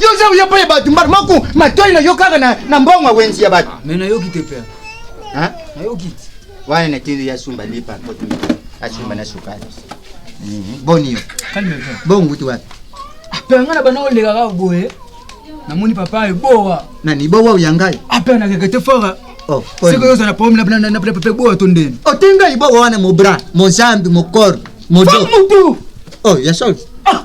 Yo oza koya epai ya bato mbala moko matoi na yo kaka na, na mbongo ya wenzi ya bato Ah, mais nayoki te père. Hein? Nayoki te. wana na tili ya sumba lipa mpoto asumba na sukali Mhm. boni yo Calme père. bonguti wapi Ah, père nga na bana oleka kaka boye. Namoni papa eboa. nani bowa oya ngai Ah, père na keke te fora. Oh, pole. Seko yoza na pomme na na na na papa eboa to ndeni. otenga ibowa wana mobra mozambi mokor modo Femme mutu. oh ya sol Ah,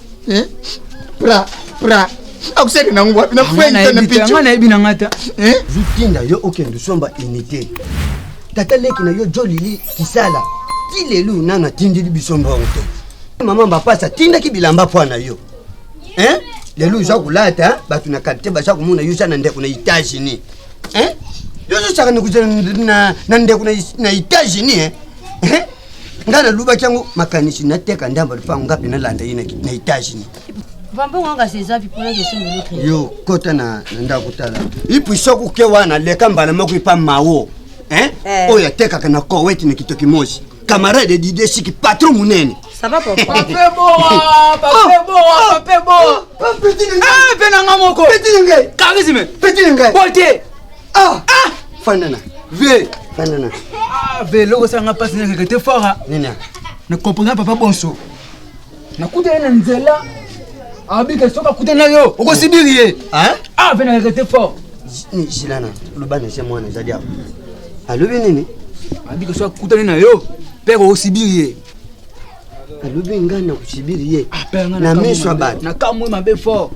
eh? pra pra akusaki nango wapi na fue na picho nga nayebi na nga ta eh? zutinda yo okende osomba unité tata leki na yo jolili kisala ti lelo nano atindeli biso mbongo te mama bapasa atindaki bilamba mpo na yo eh? lelo oza kolata bato na kalite baza komona yo oza na ndeko na états-unis eh? yo ozosaka na ndeko na états-unis eh? nga nalobaki yango makanisi nateka ndambo lupango nga mpe nalanda ye na etats-unis yo kota na ndako tala ipu soki oke wana leka mbala moko epa mawo eh. oyo atekaka na koweti na kitoki mosi camarade dide siki patron monene mpe nanga moko petit na ngai petit na ngai bote Ah! Ah! Fandana. Ve. Fandana. Ah, ve loko sanga pasi na kete fora. Nina. Na comprendre papa bonso. Na kuta na nzela. Abika soka kuta na yo. Okosibiri ye. Hein? Ah, ve na kete fort. Ni silana. Lubana se mwana zadi awa. Alobi nini? Abika soka kuta na yo. Père okosibiri ye. alobi ngai na kosibiri ye na miso ya bato nakamwe mabe fort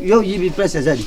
yo oyibi place ezali